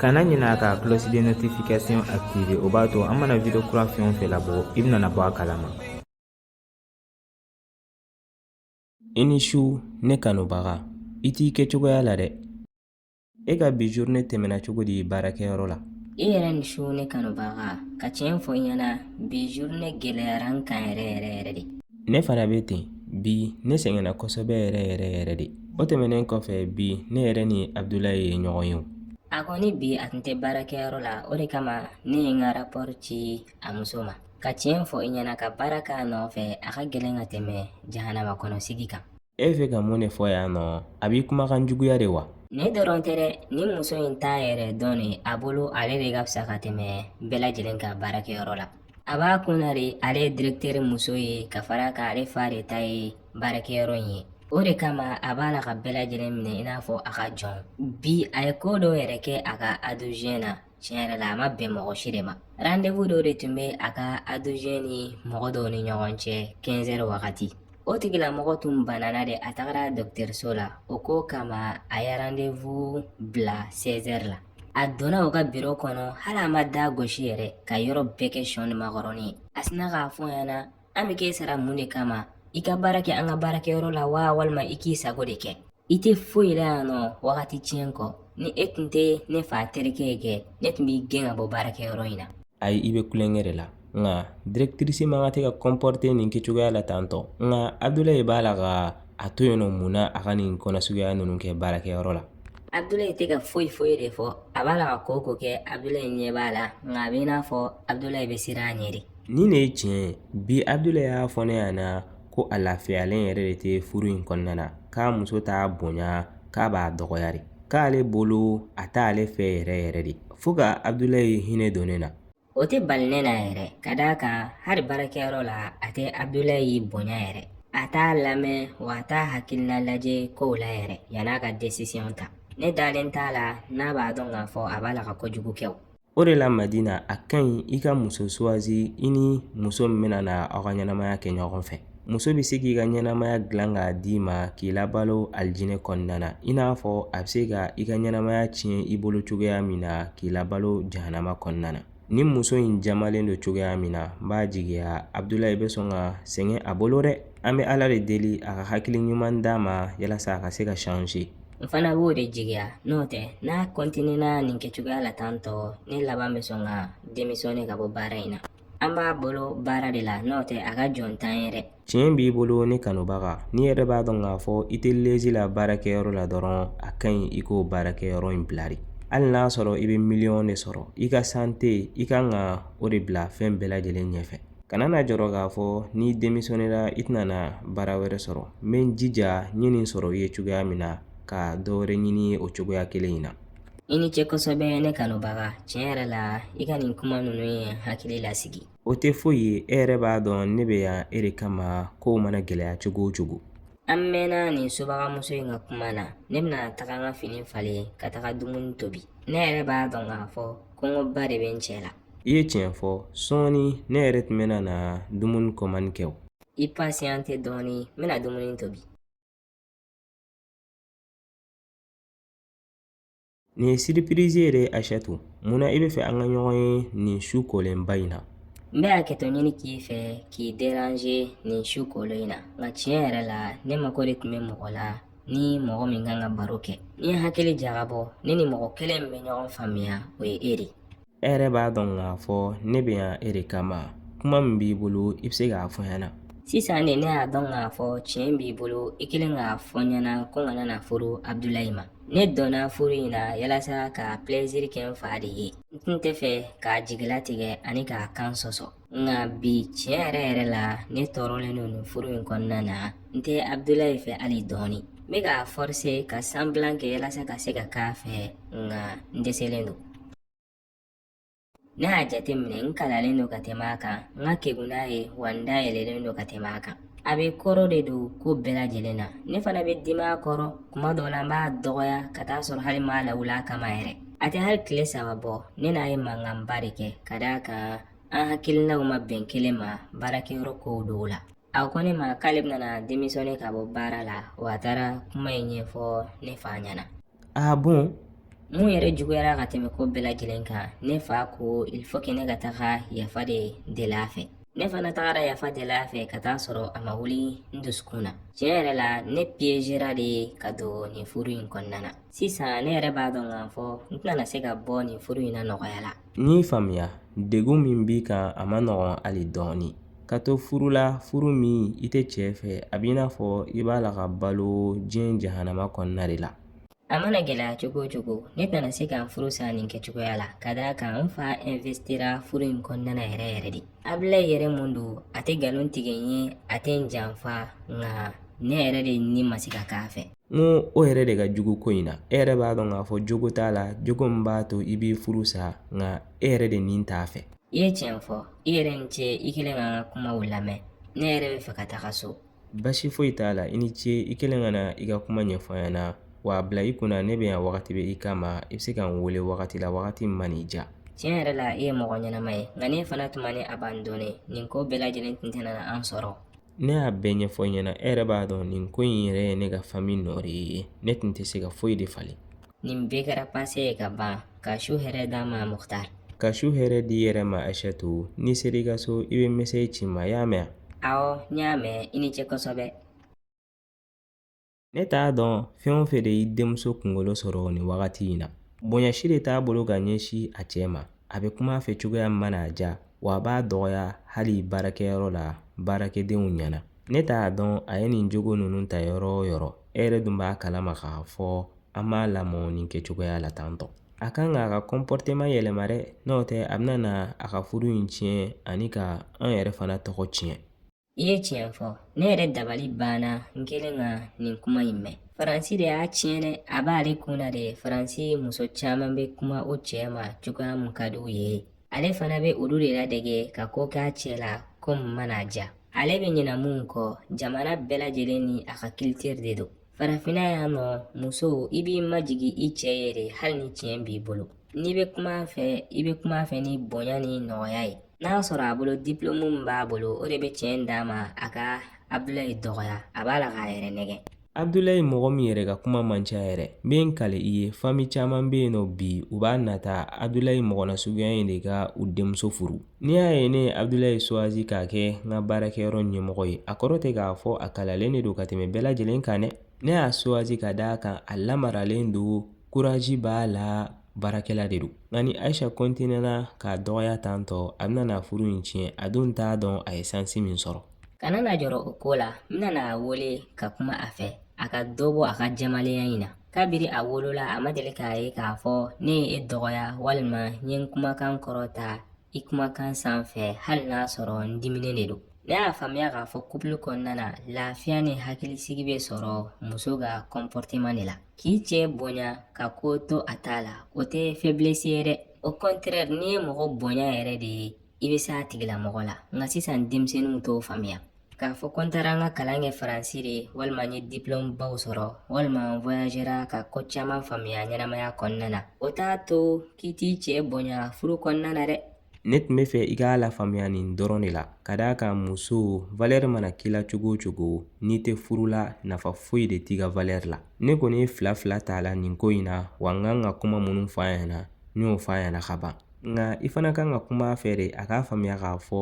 kana ɲinɛ ka cloche de notification activer o b'a to an mana video kura fɛn o fɛn labɔ i bɛna bɔ a kalama i ni su ne kanubaga i t'i kɛcogoya la dɛ e ka bi journée tɛmɛna cogo di baarakɛyɔrɔ la i yɛrɛ ni su ne kanubaga ka tiɲɛ fɔ i ɲɛna bi journée gɛlɛyara n kan yɛrɛ yɛrɛ yɛrɛ de ne fana bɛ ten bi ne sɛgɛnna kosɛbɛ yɛrɛ yɛrɛ yɛrɛ de o tɛmɛnen kɔfɛ bi ne yɛrɛ ni abudulayi ye ɲɔgɔn ye wa kɔni bi a tun tɛ baarakɛyɔrɔ la o de kama ne ye n ka rapɔri ci a muso ma ka tiɲɛ fɔ i ɲɛna ka baara k'a nɔfɛ a ka gɛlɛn ka tɛmɛ jahanama kɔnɔ sigi kan e bɛ fɛ ka mun de fɔ yan nɔ a b'i kumakan juguya de wa ne dɔrɔn tɛ dɛ nin muso in t'a yɛrɛ dɔn de a bolo ale de ka fisa ka tɛmɛ bɛɛ lajɛlen kan baarakɛyɔrɔ la a b'a kun na de ale ye direkiteri muso ye ka fara a kan ale fa de ta ye baarakɛyɔrɔ in ye o de kama a b'a la ka bɛɛ lajɛlen minɛ i n'a fɔ a ka jɔn bi a ye ko dɔw yɛrɛ kɛ a ka adjoint na tiɲɛ yɛrɛ la a ma bɛn mɔgɔ si de ma randevu dɔ de tun bɛ a ka adjoint ni mɔgɔ dɔ ni ɲɔgɔn cɛ kɛnzɛri wagati o tigilamɔgɔ tun banana de a tagara dɔgɔtɔrɔso la o ko kama a ye randevu bila sɛzɛri la a donna o ka biro kɔnɔ hali a ma da gosi yɛrɛ ka yɔrɔ bɛɛ kɛ sɔn ni makɔrɔni ye a sinna k'a fɔ a ɲɛna an bɛ k'e sara mun de kama i ka baara kɛ an ka baarakɛyɔrɔ la wa walima i k'i sago de kɛ i tɛ foyi la yan nɔ wagati tiɲɛ kɔ ni e tun tɛ ne fa terikɛ ye kɛ ne tun b'i gɛn ka bɔ baarakɛyɔrɔ in na ayi i bɛ tulonkɛ de la nka directrice man kan tɛ ka kɔnpɔrite nin kɛcogoya la tantɔ nka abudulayi b'a la ka a to yen nɔ mun na a ka nin ko suguya ninnu kɛ baarakɛyɔrɔ la abudulayi tɛ ka foyi foyi de fɔ a b'a la ka ko o ko kɛ abudulayi ɲɛ b'a la nka a bɛ i n'a fɔ abudulayi bɛ siran a ɲɛ de nin de ye tiɲɛ ye bi abudulayi y'a fɔ ne ɲɛna ko a lafiyalen yɛrɛ de tɛ furu in kɔnɔna na k'a muso t'a bonya k'a b'a dɔgɔya de k'ale bolo a t'ale fɛ yɛrɛ yɛrɛ de fo ka abudulayi hinɛ don ne na o tɛ bali ne na yɛrɛ ka d'a kan hali baarakɛyɔrɔ la a tɛ abudulayi bonya yɛrɛ a t'a lamɛn wa a t'a hakilina lajɛ kow la yɛrɛ yann'a ka desisiyɔn ta ne dalen t'a la n'a b'a dɔn k'a fɔ a b'a la ka kojugu kɛ o O de la madina a ka ɲi i ka muso sugandi i ni muso min bɛna na aw ka ɲɛnamaya kɛ ɲɔgɔn fɛ muso bɛ se k'i ka ɲɛnamaya dilan k'a d'i ma k'i labalo alijinɛ kɔnɔna na i n'a fɔ a bɛ se ka i ka ɲɛnamaya tiɲɛ i bolo cogoya min na k'i labalo jahanama kɔnɔna na nin muso in jamalen don cogoya min na n b'a jigiya abudulayi bɛ sɔn ka sɛgɛn a bolo dɛ an bɛ ala de deli a ka hakili ɲuman d'a ma yalasa a ka se ka changer n fana b'o de jigiya n'o tɛ n'a kɔntinena nin kɛcogoya la tan tɔ ne laban bɛ sɔn ka demisɔne ka bɔ baara in na an b'a bolo baara de la n'o tɛ a ka jɔn t'an ye dɛ tiɲɛ b'i bolo ne kanubaga n'i yɛrɛ b'a dɔn k'a fɔ i tɛ lezi la baarakɛyɔrɔ la dɔrɔn a ka ɲi i k'o baarakɛyɔrɔ in bila de hali n'a sɔrɔ i bɛ miliyɔn de sɔrɔ i ka sante i kan ka o de bila fɛn bɛɛ lajɛlen ɲɛfɛ kana na jɔrɔ k'a fɔ n'i demisɔnera i tɛna baara wɛrɛ sɔrɔ n bɛ n jija n ye nin sɔrɔ i ye cogoya min na ka dɔwɛrɛ ɲini i ye o cogoya kelen in na i ni cɛ kosɛbɛ ne kanubaga tiɲɛ yɛrɛ la i ka nin kuma ninnu ye n hakili lasigi o tɛ foyi ye e yɛrɛ b'a dɔn ne bɛ yan e de kama kow mana gɛlɛya cogo o cogo an mɛnna nin subagamuso in ka kuma na ne bɛna taga n ka fini falen ka taga dumuni tobi ne yɛrɛ b'a dɔn k'a fɔ kɔngɔba de bɛ n cɛ la I ye tiɲɛ fɔ sɔɔni ne yɛrɛ tun bɛ na dumuni kɔmandi kɛ o i pasiyante dɔɔnin n bɛna dumuni tobi nin ye siripirizi yɛrɛ ye ashatu mun na i bɛ fɛ an ka ɲɔgɔn ye nin su kolenba in na n bɛ hakɛto ɲini k'i fɛ k'i deranze nin su kolen in na nka tiɲɛ yɛrɛ la ne mako de tun bɛ mɔgɔ la ni mɔgɔ min kan ka baro kɛ ni hakili jagabɔ ne ni mɔgɔ kelen min bɛ ɲɔgɔn faamuya o ye e de e yɛrɛ b'a dɔn k'a fɔ ne bɛ yan e de kama kuma min b'i bolo i bɛ se k'a fɔ n ɲɛna sisan de ne y'a dɔn k'a fɔ tiɲɛ b'i bolo i kɛlen k'a fɔ n ɲɛna ko n kana na furu abudulayi ma ne dɔnna furu in na yalasa ka pilɛziri kɛ n fa de ye n tun tɛ fɛ k'a jigilatigɛ ani k'a kan sɔsɔ nka bi tiɲɛ yɛrɛ yɛrɛ la ne tɔɔrɔlen don nin furu in kɔnɔna na n tɛ abudulayi fɛ hali dɔɔni n bɛ ka fɔrse ka sanbilan kɛ walasa ka se ka k'a fɛ nka n dɛsɛlen don ne y'a jateminɛ n kalanlen don ka tɛmɛ a kan n ka kegun n'a ye wa n dayɛlɛlen don ka tɛmɛ a kan a bɛ kɔrɔ de don ko bɛɛ lajɛlen na ne fana bɛ dimi a kɔrɔ kuma dɔw la n b'a dɔgɔya ka t'a sɔrɔ hali n m'a lawuli a kama yɛrɛ a tɛ hali tile saba bɔ ne n'a ye mankanba de kɛ ka d'a kan an hakilinaw ma bɛn kelen ma baarakɛyɔrɔ kow dɔw la a ko ne ma k'ale bɛna demisɔne ka bɔ baara la wa a taara kuma in ɲɛfɔ ne fa ɲɛna a bon mun yɛrɛ juguyara ka tɛmɛ ko bɛɛ lajɛlen kan ne fa ko il faut que ne ka taga yafa de deli a fɛ ne fana tagara yafa deli a fɛ ka t'a sɔrɔ a ma wuli n dusukun na tiɲɛ yɛrɛ la ne piegera de ka don nin furu in kɔnɔna na sisan ne yɛrɛ b'a dɔn k'a fɔ n tɛna se ka bɔ nin furu in na nɔgɔya la N y'i faamuya degun min b'i kan a man nɔgɔn hali dɔɔnin ka to furu la furu min i tɛ cɛ fɛ a b'i n'a fɔ i b'a la ka balo diɲɛ jahanama kɔnɔna de la a mana gɛlɛya cogo o cogo ne tɛna se ka n furu sa nin kɛcogoya la ka d'a kan n fa ɛnvesitira furu in kɔnɔna yɛrɛ yɛrɛ de abila yɛrɛ mun don a tɛ nkalon tigɛ n ye a tɛ n janfa nka ne yɛrɛ de ni ma se ka k'a fɛ n ko o yɛrɛ de ka jugu ko in na e yɛrɛ b'a dɔn k'a fɔ jogo t'a la jogo min b'a to i b'i furu sa nka e yɛrɛ den in t'a fɛ i ye tiɲɛ fɔ i yɛrɛ ni ce i kɛlen ka kumaw lamɛn ne yɛrɛ b'a fɛ ka taga so basi foyi t'a la i ni ce i kɛlen ka na i ka kuma ɲɛfɔ an ɲɛna wa a bila i kunna ne bɛ yan wagati bɛɛ i kama i bɛ se ka n wele wagati la wagati min mana i ja tiɲɛ yɛrɛ la i ye mɔgɔ ɲɛnama ye nka ne fana tuma ne a b'an donnen nin ko bɛɛ lajɛlen tun tɛna na an sɔrɔ Ne y'a bɛɛ ɲɛfɔ i ɲɛna e yɛrɛ b'a dɔn nin ko in yɛrɛ ye ne ka fami nɔ de ye ne tun tɛ se ka foyi de falen nin bɛɛ kɛra pase ye ka ban ka su hɛrɛ d'an ma muktari ka su hɛrɛ d'i yɛrɛ ma ayisa dɔnki n'i sera i ka so i bɛ mesazi ci n ma i y'a mɛn awɔ n y'a mɛn i ni cɛ kosɛbɛ ne t'a dɔn fɛn o fɛn de y'i denmuso kunkolo sɔrɔ nin wagati in na bonya si de t'a bolo ka ɲɛsin a cɛ ma a bɛ kuma a fɛ cogoya min mana a ja wa a b'a dɔgɔya hali baarakɛyɔrɔ la baarakɛdenw ɲɛna ne t'a dɔn a ye nin jogo ninnu ta yɔrɔ o yɔrɔ e yɛrɛ dun b'a kalama k'a fɔ an m'a lamɔ nin kɛcogoya la tan tɔ a kan k'a ka kɔnpɔriteman yɛlɛma dɛ n'o tɛ a bɛna na a ka furu in tiɲɛ ani ka an yɛrɛ fana tɔgɔ tiɲɛ I ye tiɲɛ fɔ ne yɛrɛ dabali banna n kɛlen ka nin kuma in mɛn faransi de y'a tiɲɛ dɛ a b'ale kun na de faransi muso caman bɛ kuma o cɛ ma cogoya min ka di u ye ale fana bɛ olu de ladege ka ko k'a cɛ la ko min mana a ja ale bɛ ɲina min kɔ jamana bɛɛ lajɛlen ni a ka kilitiri de don farafinna yan nɔ muso i b'i majigin i cɛ ye de hali ni tiɲɛ b'i bolo n'i bɛ kuma a fɛ i bɛ kuma a fɛ ni bonya ni nɔgɔya ye n'a y'a sɔrɔ a bolo dipilomu min b'a bolo o de bɛ tiɲɛ in d'a ma a ka abudulayi dɔgɔya a b'a la k'a yɛrɛ nɛgɛn abudulayi mɔgɔ min yɛrɛ ka kuma man ca yɛrɛ n bɛ n kale i ye fami caman bɛ yen nɔ bi u b'a nata abudulayi mɔgɔ nasuguya in de ka u denmuso furu n'i y'a ye ne ye abudulayi suwazi k'a kɛ n ka baarakɛyɔrɔ ɲɛmɔgɔ ye a kɔrɔ tɛ k'a fɔ a kalalen de don ka tɛmɛ bɛɛ lajɛlen kan dɛ ne y'a suwazi ka d'a kan a lamaralen don kurazi b'a la baarakɛla de don nka ni ayisa kɔntinera k'a dɔgɔya tan tɔ a bɛna n'a furu in tiɲɛ a dun t'a dɔn a ye sansi min sɔrɔ kana na jɔrɔ o ko la n bɛna a wele ka kuma a fɛ a ka dɔ bɔ a ka jamalenya in na kabiri a wolola a ma deli k'a ye k'a fɔ ne ye e dɔgɔya walima n ye n kumakan kɔrɔta i kumakan sanfɛ hali n'a sɔrɔ n diminen de don ne y'a faamuya k'a fɔ kupulu kɔnɔna na lafiya ni hakilisigi bɛ sɔrɔ muso ka kɔnpɔriteman de la k'i cɛ bonya ka ko to a ta la o tɛ fɛblesi ye dɛ o kɔntrɛri n'i ye mɔgɔ bonya yɛrɛ de ye i bɛ se a tigilamɔgɔ la nka sisan denmisɛnninw t'o faamuya k'a fɔ ko n taara n ka kalan kɛ faransi de walima n ye diplɔmubaw sɔrɔ walima n voyagera ka ko caman faamuya ɲɛnamaya kɔnɔna na o t'a to k'i t'i cɛ bonya furu kɔnɔna na dɛ ne tun bɛ fɛ i k'a lafaamuya nin dɔrɔn de la ka d'a kan muso valɛri mana k'i la cogo o cogo n'i tɛ furu la nafa foyi de t'i ka valɛri la ne kɔni ye fila fila t'a la nin ko in na wa n kan ka kuma minnu fɔ a ɲɛna n y'o fɔ a ɲɛna ka ban nka i fana kan ka kuma a fɛ de a k'a faamuya k'a fɔ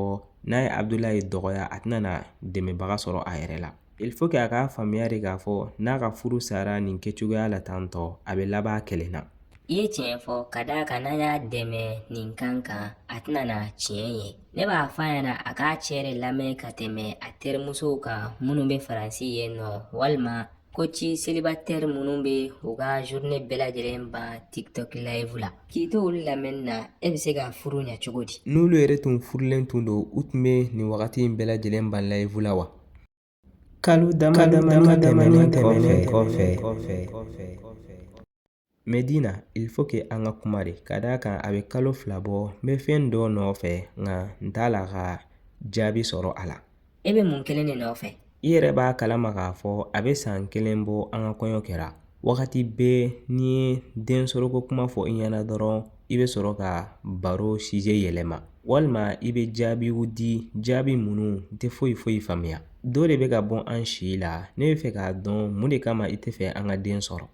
n'a ye abudulayi dɔgɔya a tɛna na dɛmɛbaga sɔrɔ a yɛrɛ la il faut que a k'a faamuya de k'a fɔ n'a ka furu sara nin kɛcogoya la tan tɔ a bɛ laban kelen na i ye tiɲɛ fɔ ka d'a kan n'an y'a dɛmɛ nin kan kan a tɛna na tiɲɛ ye ne b'a fɔ a ɲɛna a k'a cɛ de lamɛn ka tɛmɛ a terimusow kan minnu bɛ faransi yen nɔ walima koci selibatɛri minnu bɛ u ka journée bɛɛ lajɛlen ban tiktok live la k'i to olu lamɛnni na e bɛ se ka furu ɲɛ cogo di n'olu yɛrɛ tun furulen tun don u tun bɛ nin wagati in bɛɛ lajɛlen ban live la wa Kalo dama dama tɛmɛnen kɔfɛ Medina il faut que an ka kuma de ka d'a kan a bɛ kalo fila bɔ n bɛ fɛn dɔ nɔfɛ nka n t'a la ka jaabi sɔrɔ a la e bɛ mun kelen de nɔfɛ i yɛrɛ b'a kalama k'a fɔ a bɛ san kelen bɔ an ka kɔɲɔ kɛra wagati bɛɛ n'i ye den sɔrɔko kuma fɔ i ɲɛna dɔrɔn i bɛ sɔrɔ ka baro sijɛ yɛlɛma walima i bɛ jaabiw di jaabi minnu tɛ foyi foyi faamuya dɔ de bɛ ka bɔ an si la ne bɛ fɛ k'a dɔn mun de kama i tɛ fɛ an ka den sɔrɔ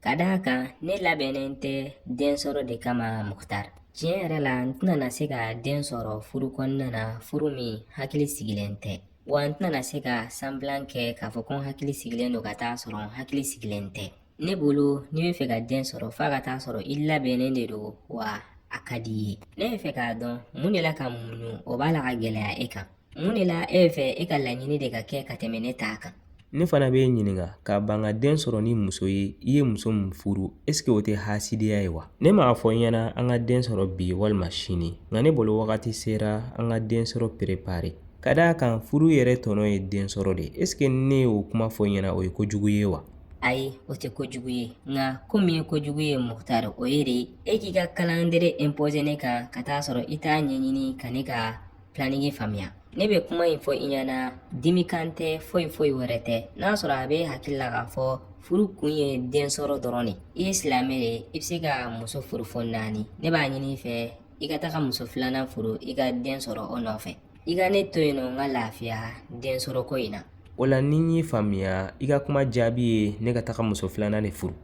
ka d'a kan ne labɛnnen tɛ den sɔrɔ de kama mukutari tiɲɛ yɛrɛ la n tɛna se ka den sɔrɔ furu kɔnɔna na furu min hakili sigilen tɛ wa n tɛna se ka sanbilan kɛ k'a fɔ ko n hakili sigilen don ka taa sɔrɔ n hakili sigilen tɛ ne bolo n'i bɛ fɛ ka den sɔrɔ f'a ka taa sɔrɔ i labɛnnen de don wa a ka di i ye ne bɛ fɛ k'a dɔn mun de la ka muɲu o b'a la ka gɛlɛya e kan mun de la e bɛ fɛ e ka laɲini de ka kɛ ka tɛmɛ ne ta kan ne fana b'i ɲininka ka ban ka den sɔrɔ ni muso ye i ye muso min furu esike o tɛ hasidiya ye wa ne m'a fɔ i ɲɛna an ka den sɔrɔ bi walima sini nka ne bolo wagati sera an ka den sɔrɔ perepare ka d'a kan furu yɛrɛ tɔnɔ ye den sɔrɔ de ye esike ne y'o kuma fɔ i ɲɛna o ye kojugu ye wa ayi o tɛ kojugu ye nka ko min ye kojugu ye mukutari o ye de e k'i ka kalandere impose ne kan ka taa sɔrɔ i t'a ɲɛɲini ka ne ka planigi faamuya ne bɛ kuma in fɔ i ɲɛna dimikan tɛ foyi foyi wɛrɛ tɛ n'a sɔrɔ a b'i hakili la k'a fɔ furu kun ye den sɔrɔ dɔrɔn de ye i ye silamɛ de ye i bɛ se ka muso furu fo naani ne b'a ɲini i fɛ i ka taga muso filanan furu i ka den sɔrɔ o nɔfɛ i ka ne to yen nɔ n ka lafiya den sɔrɔ ko in na o la ni n y'i faamuya i ka kuma jaabi ye ne ka taga muso filanan de furu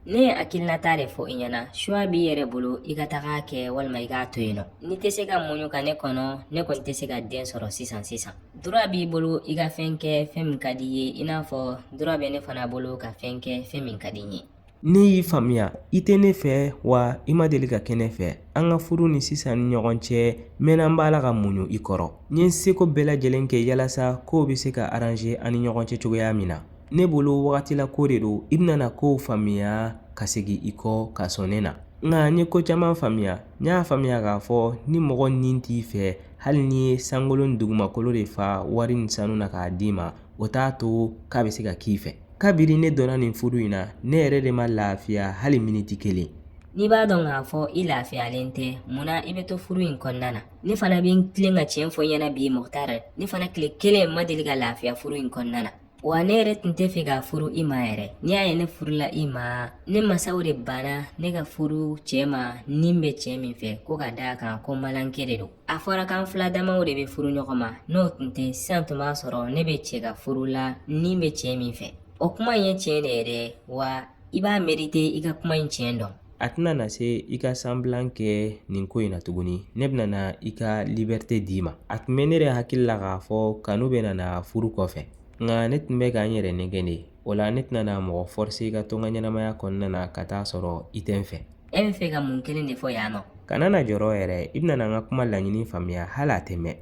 ne ye hakilinata de fɔ i ɲɛna choix b'i yɛrɛ bolo i ka taga a kɛ walima i k'a to yen nɔ n'i tɛ se ka muɲu ka ne kɔnɔ ne kɔni tɛ se ka den sɔrɔ sisan sisan droit b'i bolo i ka fɛn kɛ fɛn min ka di i ye i n'a fɔ droit bɛ ne fana bolo ka fɛn kɛ fɛn min ka di n ye ne y'i faamuya i tɛ ne fɛ wa i ma deli ka kɛ ne fɛ an ka furu ni sisan ni ɲɔgɔn cɛ mɛnna n b'a la ka muɲu i kɔrɔ n ye n seko bɛɛ lajɛlen kɛ yalasa kow bɛ se ka aranze an ni ɲɔgɔn cɛ cogoya min na ne bolo wagati la ko de don i bɛna na kow faamuya ka segin i kɔ ka sɔn ne na nka n ye ko caman faamuya n y'a faamuya k'a fɔ ni mɔgɔ ni t'i fɛ hali n'i ye sankolo ni dugumakolo de fa wari ni sanu na k'a d'i ma o t'a to k'a bɛ se ka k'i fɛ kabini ne donna nin furu in na ne yɛrɛ de ma lafiya hali miniti kelen n'i b'a dɔn k'a fɔ i lafiyalen tɛ munna i bɛ to furu in kɔnɔna na ne fana bɛ n tilen ka tiɲɛ fɔ i ɲɛna bi mɔgɔta yɛrɛ ne fana tile kelen ma deli ka lafiya furu in kɔnɔna na wa ne yɛrɛ tun tɛ fɛ ka furu i ma yɛrɛ n'i y'a ye ne furula i ma ne masaw de banna ne ka furu cɛ ma ni n bɛ cɛ min fɛ ko ka d'a kan ko malinkɛ de don a fɔra k'an fula damaw de bɛ furu ɲɔgɔn ma n'o tun tɛ sisan tun b'a sɔrɔ ne bɛ cɛ ka furu la ni n bɛ cɛ min fɛ o kuma in ye tiɲɛ de ye dɛ wa i b'a merite i ka kuma in tiɲɛ dɔn a tɛna na se i ka sanbilan kɛ nin ko in na tuguni ne bɛna na i ka libɛrite d'i ma a tun bɛ ne yɛrɛ hakili la k'a fɔ kanu bɛna na furu kɔfɛ nka ne tun bɛ ka n yɛrɛ nɛgɛn de O la ne tɛna na mɔgɔ forcer i ka to n ka ɲɛnamaya kɔnɔna na ka taa sɔrɔ i tɛ n fɛ. E bɛ fɛ ka mun kelen de fɔ yan nɔ? Kana na jɔrɔ yɛrɛ, i bɛna na n ka kuma laɲini faamuya hali a tɛ mɛn.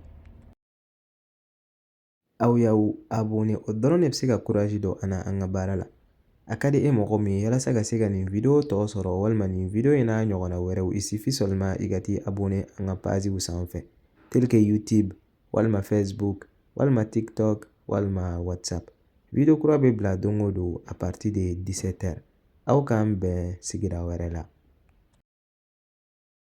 Aw y'aw abonné o dɔrɔn de bɛ se ka courage don an na an ka baara la. A ka di e mɔgɔ min ye yalasa ka se ka nin video tɔ sɔrɔ walima nin video in n'a ɲɔgɔnna wɛrɛw, il suffit seulement i ka t'i abonné an ka pagew sanfɛ, tel que YouTube, walima facebook walima tiktok walima whatsapp video kura bɛ bila don o don a partir de 17 heures aw k'an bɛn sigira wɛrɛ la